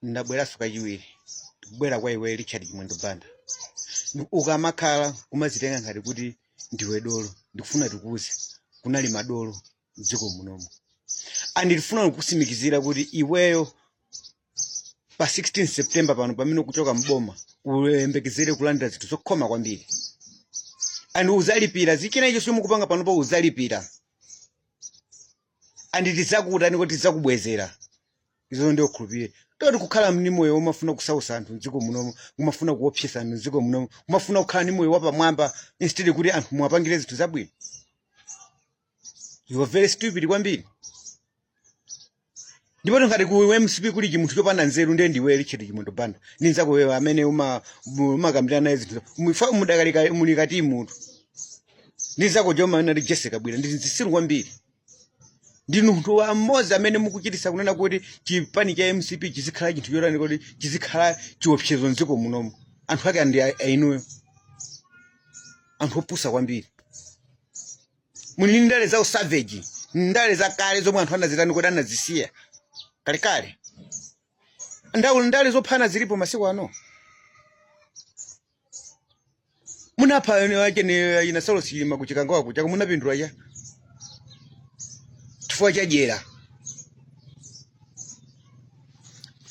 ndabweranso kachiwiri ndikubwera kwa iwe richard chimwendo banda ukamakhala umazitenga ngati kuti ndiwe dolo ndikufuna ndikuuze kunali madolo mdziko munomo and ndifuna kukusimikizira kuti iweyo pa 16 september pano pamene ukuchoka mboma uyembekezere kulandira zinthu zokhoma kwambiri and uzalipira zichina icho chomwe ukupanga panopo uzalipira and tidzakutani kodi tidzakubwezera izo ndiye ukhulupirire zoti kukhala ndi moyo umafuna kusausa anthu mdziko munomo umafuna kuopseza anthu mdziko munomo umafuna kukhala ndi moyo wapamwamba instead kuti anthu muwapangire zinthu zabwino you are very stupid kwambiri ndipo ngati ku mcp kuli chimunthu chopanda nzeru ndiye ndiwe richard chimwendo banda ndi nzako uyo amene uma- mu- umakambirana naye zinthu Mufa- mudakali ka- muli kati munthu ndi nzako joma nali jesse kabwila ndi zitsiru kwambiri ndinu munthu wa mmodzi amene mukuchititsa kunena kuti chipani cha mcp chizikhala chinthu chotani kuti chizikhala chiopsezo mdziko munomo anthu ake ndi a- ainuyo anthu opusa kwambiri muli ndi ndale za usavage ndale za kale zomwe anthu anazitani kodi anazisiya kalekale nawo ndale zophana zilipo masiku ano munapha winawake ndi a saulos chilima ku chikangawa kuja koma munapindula chani chifukwa cha dyera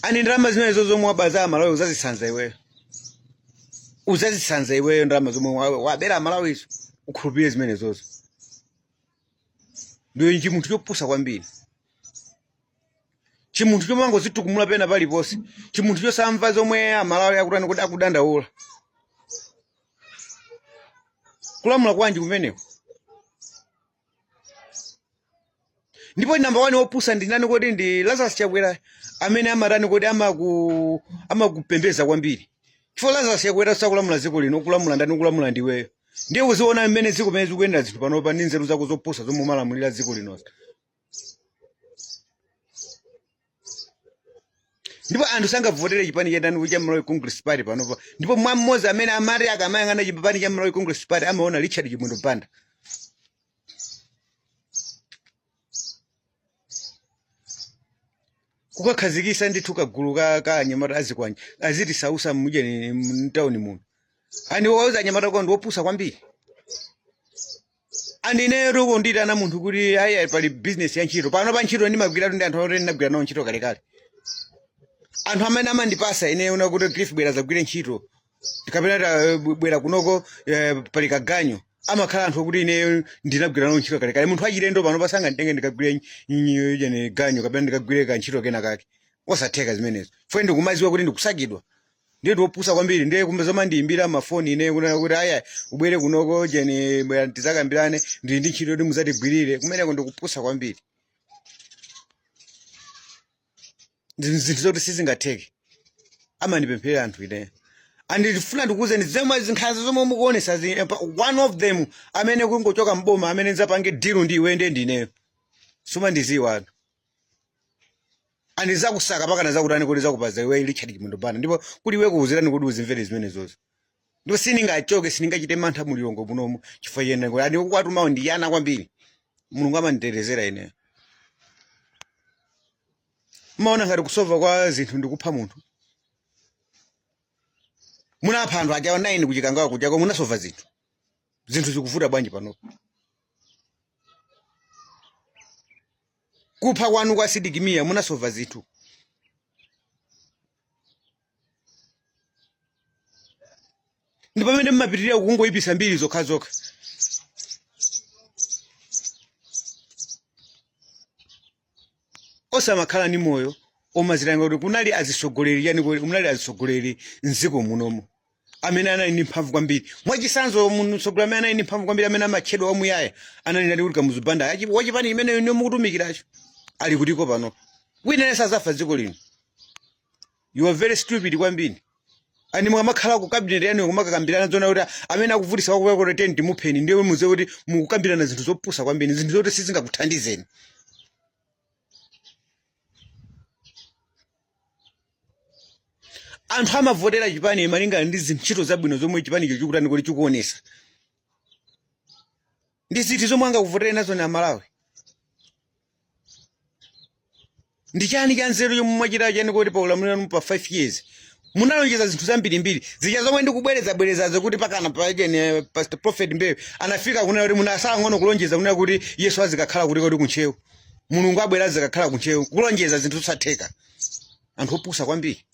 and ndalama zimenezo zomwe waba za amalawi uzazisanza iweyo uzazisanza iweyo ndalama zomwe wa- wabera amalawizo ukhulupirire zimenezozo ndiwe chimunthu chopusa kwambiri chimunthu chomangozitukumula pena paliponse chimunthu chosamva zomwe amalawi akutani kodi akudandaula kulamula kwanji kumeneko ndipo namba wani wopusa ndi nani kodi ndi lazarus chakwera amene amatani kodi amakupembedza kwambiri chifukwa lazarus chakwera sakulamula dziko lino akulamula ndani akulamula ndiweyo ndiye uziona mmene dziko pamene zikuyenda zinthu panopa ndi nzeru zako zopusa zomwe umalamulira dziko linozo ndipo anthu sangavotere chipani cha ndani cha Malawi Congress Party panopa ndipo mwa mmodzi amene amati akamayang'ana chipani cha Malawi Congress Party amaona Richard Chimwendo Banda kukakhazikitsa ndithu kagulu ka ka anyamata azikwanje azitisautsa mujeni mtawuni muno and uwauze anyamata akowo ndiwopusa kwambiri and ineyo kunditana munthu kuti ayi ayi pali business ya ntchito pano pa ntchito ndimagwiratu ndi anthu oti ndinagwira nawo ntchito kalekale anthu amene amandipasa ineyo kunena kuti cliff bwera zagwire ntchito kapena ta- eh, bw- bwera kunoko eh, pali kaganyo amakhala anthu okuti ineyo ndinagwira nawo ntchito kalekale munthu wachilendo pano sanganditenge ndikagwire naye ganyo kapena ndikagwire ka ntchito kena kake osatheka zimenezo fwe ndikumaziwa kuti ndikusakidwa ndiye ndikupusa kwambiri ndiye kumbe zomandiimbira mafoni ineyo kunena kuti ayi ubwere kunoko jeni bwera tizakambirane ndili ndi ntchito yoti muzatigwirire kumeneko ndikupusa kwambiri Ndi- zinthu zoti sizingatheke amandipempherera anthu ineyo andifuna ndikuuzeni zomwe zinkhanza zomwe mukuonesa zi- eh, pa- one of them amene kungochoka mboma amene nzapange deal ndi iwe ndiye ndineyo sumandiziwa anthu andizakusaka pakana zakutani kuti zakupaza iwe richard chimwendo banda ndipo kuti iwe kuuziratu kuti uzimvere zimenezozo ndipo sindingachoke sindingachite mantha mulilongo munomu chifukwa chiyenda kuti andi kukwatumawo ndi yana kwambiri mulungu amanditetezera ineyo mumaona ngati kusova kwa zinthu ndikupha munthu munapha anthu aja 9 kuchikangawa kuchako munasova zinthu zinthu zikuvuta bwanji panopo kupha kwanu kwa Sidik Mia munasova zinthu ndi pamene mmapitirira kungoyipitsa mbiri zokha zokha osamakhala ndi moyo omazilinga kuti kunali azitsogoleri chani kuti kunali azitsogoleri mdziko munomu amene anali ndi mphamvu kwambiri mwachisanzo mtsogoleri amene anali ndi mphamvu kwambiri amene amatchedwa wamuyaya anali ndani kuti kamuzu banda Achi- wachipani chimenecho ndiye mukutumikiracho ali kutiko pano wina yense azafa dziko lino you are very stupid kwambiri and mukamakhala ku cabinet yanu kumakakambirana zona kuti amene akuvutisa kwakuya kuti teni timupheni ndiye muziwe kuti mukukambirana zinthu zopusa kwambiri zinthu zoti sizingakuthandizeni anthu amavotera chipani malingana ndi zintchito zabwino zomwe chipanicho chikutani kuti chikuonesa ndi ziti zomwe angakuvotere nazo ni amalawi ndi chani cha nzeru chomwe mwachita chani kuti pa ulamuliro wanu pa 5 years munalonjeza zinthu zambirimbiri zija zomwe ndikubwerezabwerezazo kuti pakana paja pastor prophet mbewe anafika kunena kuti munasala ng'ono kulonjeza kunena kuti yesu azikakhala kuti kodi kuntcheu mulungu abwera azikakhala kuntcheu kulonjeza zinthu zosatheka anthu opusa kwambiri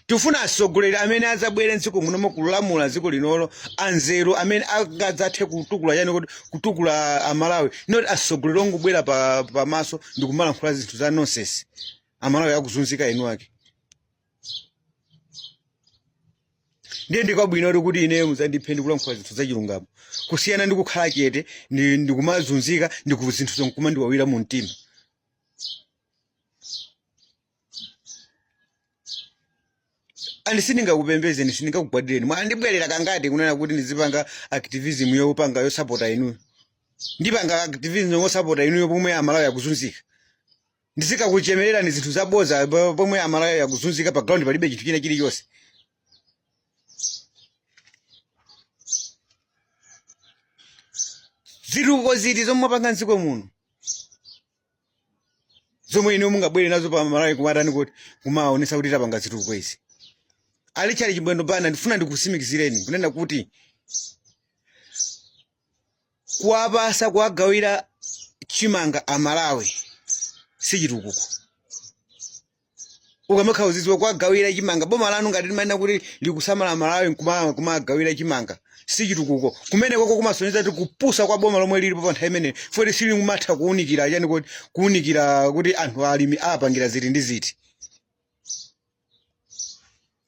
tifuna atsogoleri amene adzabwere mdziko munomo kulamula dziko linolo anzeru amene angadzathe kutukula chani kodi kutukula amalawi not atsogoleri ongobwera pa- pamaso ndi kumalankhula zinthu za nonsense amalawi akuzunzika inu ake ndiye ndi kwabwino kuti ineyo muzandiphe ndikulankhula zinthu zachilungamo kusiyana ndi kukhala chete ndi- ndikumazunzika ndi zinthu zonkumandiwawira mu mtima and sindingakupembezeni sindingakugwadireni mwandibwerera kangati kunena kuti ndizipanga activism yopanga yosapota inuyo ndipanga activism yosapota inuyo pomwe amalawi akuzunzika ndizikakuchemererani zinthu zaboza po- pomwe amalawi akuzunzika pa ground palibe chinthu china chilichonse zitukuko ziti zomwe mwapanga mdziko muno zomwe inu mungabwere nazo pa malawi kumatani kodi kumaonesa kuti tapanga zitukuko izi a richard chimwendo banda ndifuna ndikusimikizireni kunena kuti kuwapasa kuwagawira chimanga amalawi si chitukuko ukamakhala uziziwa kuwagawira chimanga boma lanu ngati limanena kuti likusamala amalawi nkuma- kumagawira chimanga si chitukuko kumenekoko kumasonyeza kuti kupusa kwa boma lomwe lilipo pa nthawi imeneyo futi silikumatha kuwunikira chani kodi kuwunikira kuti anthu alimi apangira ziti ndi ziti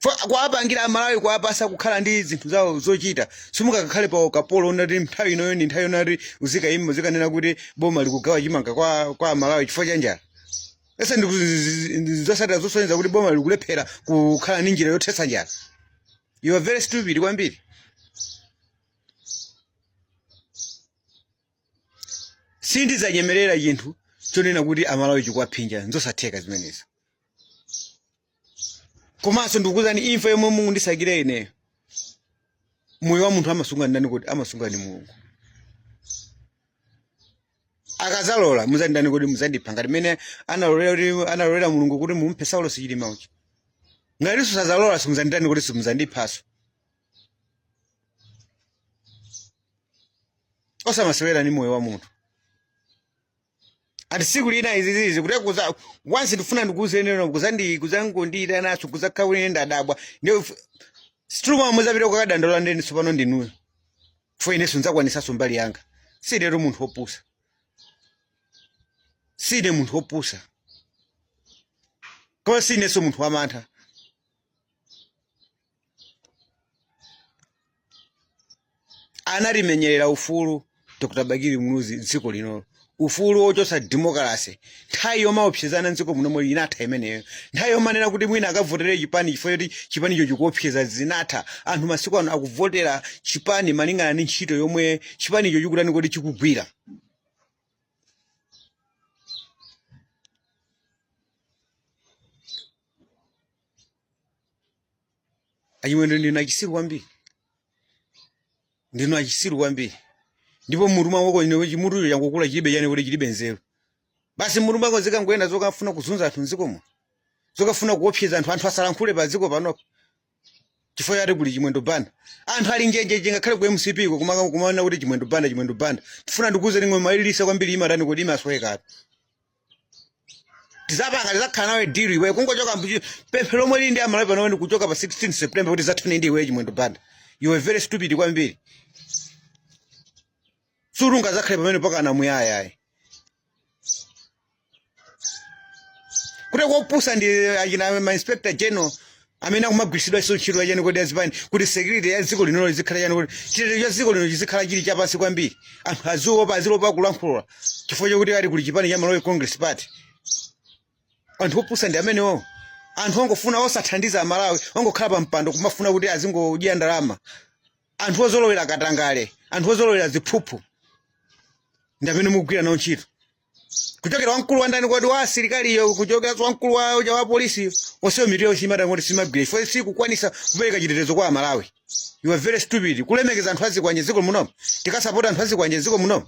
Fa- kuwapangira amalawi kuwapasa kukhala ndi zinthu zawo zochita simungakakhale pa ukapolo woti nthawi inoyo ndi nthawi yoti uzikayima uzikanena kuti boma likugawa chimanga kwa, kwa amalawi chifukwa cha njala ese ndi zosatira zosonyeza kuti boma likulephera kukhala ndi njira yothetsa njala you are very stupid kwambiri sindizanyengerera chinthu chonena kuti amalawi chikuwaphinja nzosatheka zimenezo komanso ndikukuuzani imfa yomwe mungandisakire ineyo moyo wa munthu amasunga ndani kodi amasunga ni mulungu akazalola muzanditani kodi muzandipha ngati mmene analolera kuti analolera mulungu kuti mumuphe saulosi chilima uja ngatinso sazalola simuzanditani kodi simuzandiphaso osamasewera ni moyo wa munthu and siku lina izi zizi kuti kuza onse ndifuna ndikuzenera kuzandi kuzangondira nacho kuzakawene ndadabwa ndio struma muzapita kukadandaula ndeni sopano ndinuyo for ineso nizakwanisaso mbali yanga sinetu munthu opusa sine munthu opusa koma sineso munthu wamantha anatimenyerera ufulu dr bakili muluzi mdziko linolo ufulu wochotsa demokalase nthawi yomaopsezana mdziko munomo inatha imeneyo nthawi yomanena kuti mwina akavotere chipani chifukwa choti chipanicho chikuopseza zinatha anthu masiku ano akuvotera chipani malingana ndi ntchito yomwe chipanicho chikutani kuti chikugwira achimwendo ndinu achisiru kwambiri ndinu achisiru kwambiri ndipo mutu mwako ine chimutucho changokula chilibe chani kuti chilibe nzeru basi mutu mwako zikangoyenda zokafuna kuzunza anthu mdziko muno zokafuna kuopseza anthu anthu asalankhule pa dziko panopo chifukwa choti kuli chimwendo banda anthu ali njenje ngakhale ku mcpko kumaka kumaona kuti chimwendo banda chimwendo banda tifuna ndikuze ng'oma yolilitsa kwambiri imatani kuti imasweka ati tizapanga tizakhala nawe deal iweyo kungochoka mbuchi pemphero lomwe lili ndi amalawi pano ndi kuchoka pa 16 september kuti zathane ndi iwe chimwendo banda you are very stupid kwambiri sungazakhale pamenepo mpakana muyaya ayi kuti kopusa ndi achina mainspector general amene akumagwiritsidwaso ntchito ya chani kuti azipani kuti security ya dziko lino izikhala chani kuti chitetezo cha dziko lino chizikhala chili chapansi kwambiri anthu aziopa aziopa kulankhula chifukwa chokuti ali kuli chipani cha Malawi Congress Party anthu opusa ndi amenewo anthu ongofuna osathandiza amalawi ongokhala pa mpando kumafuna kuti azingodya ndalama anthu ozolowera katangale anthu ozolowera ziphuphu ndi amene mukugwira nawo ntchito kuchokera kwa mkulu wa ndani kodi wa asilikaliyo kuchokera kwa mkulu wa uja wa polisi onsewo mitu yawo imakhala ngati simagwira chifukwa sikukwanisa kupereka chitetezo kwa amalawi you are very stupid kulemekeza anthu azikwanje mdziko munomo tikasapota anthu azikwanje dziko muno